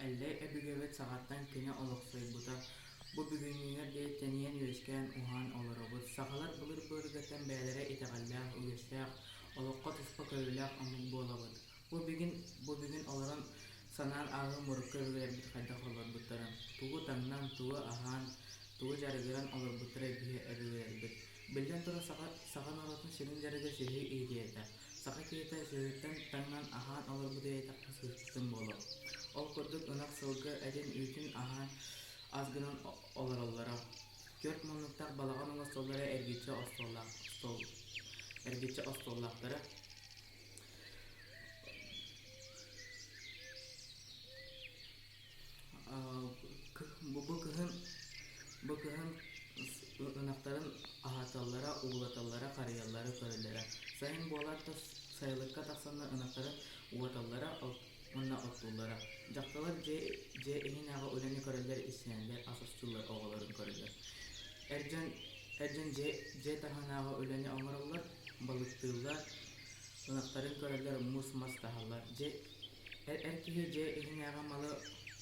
Эллэй өбүгэбит саҕаттан күнэ олохсуйбута. Бу бүгүннүүнү диэки тэнийэн үөскээн уһаан олоробут. Сахалар былыр-быаргаттан бэйэлэрэ итэҕэллээх, үгэстээх, олоххо туспа көрүүлээх омук буолабыт. Бу бүгүн бу бүгүн олорон санаан ааҕыым урукку өбүгэлэрбит хайдах олорбуттарын, тугу таҥнан, тугу аһаан, тугу дьарыгыран олорбуттара биһи өбүгэлэрбит. Биллэн турар, саха саха норуотун сүрүн дьарыга сүөһү иитиһиэхэ. Саха киһитэ сүөһүттэн таҥнан аһаан олорбут ийэтэххэ сыыспытын буолуо. Ол курдук ынах сылгы этин-үүтүн аһаан ас гынан олороллоро. Түөрт муннуктаах балаҕан уҥа столлара эргиччи остуоллаах стол эргиччи остуоллаахтара Бу кыһын бу кыһын ынахтарын аһаталлара, уулаталлара, харыйаллара, көрөллөрө. Сайын буолар да сайылыкка тахсаннар ынахтарын уоталлара уонна оттууллара. Дьахталлар дьиэ дьиэ иһинээҕи үлэни көрөллөр, истэнэллэр, ас устууллар, оҕолорун көрөллөр. Эр дьон эр дьон дьиэ дьиэ таһынааҕы үлэни оҥороллор, балыктыыллар, ынахтарын көрөллөр, мус мас таһаллар. Дьэ, эр, эр киһи дьэ иһинээҕи малы,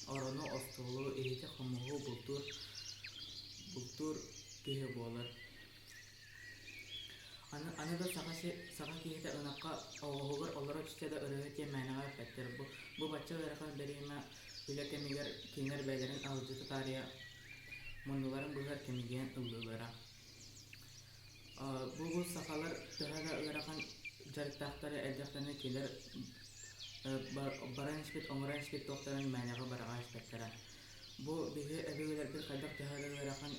орону, остуолу, иһити-хомуһу бултуур, бултуур киһи буолар. Аны, аны да саха, саха киһитэ ынахха оҕоһугар олоро түсте да өрөһө диэн мээнэҕэ эппэттэр. Бу, бу бачча ыарахан бэриэмэ үлэ кэмигэр киҥэр бэйэлэрин алдьата таарыйа муннуларын быһар кэмигиэн ыллыылара Бу сахалар төһө да ыарахан дьарыктаахтара элбэхтэринэ кинилэр баран испит, оҥорон испит туохтарын мээнэҕэ быраҕа испэттэрэ. Бу биһи өбүгэлэрбит хайдах төһө да ыарахан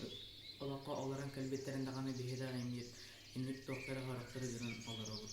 олоххо олорон кэлбиттэрин даҕаны биһи да инник инник туохтары харахтары гынан олоробут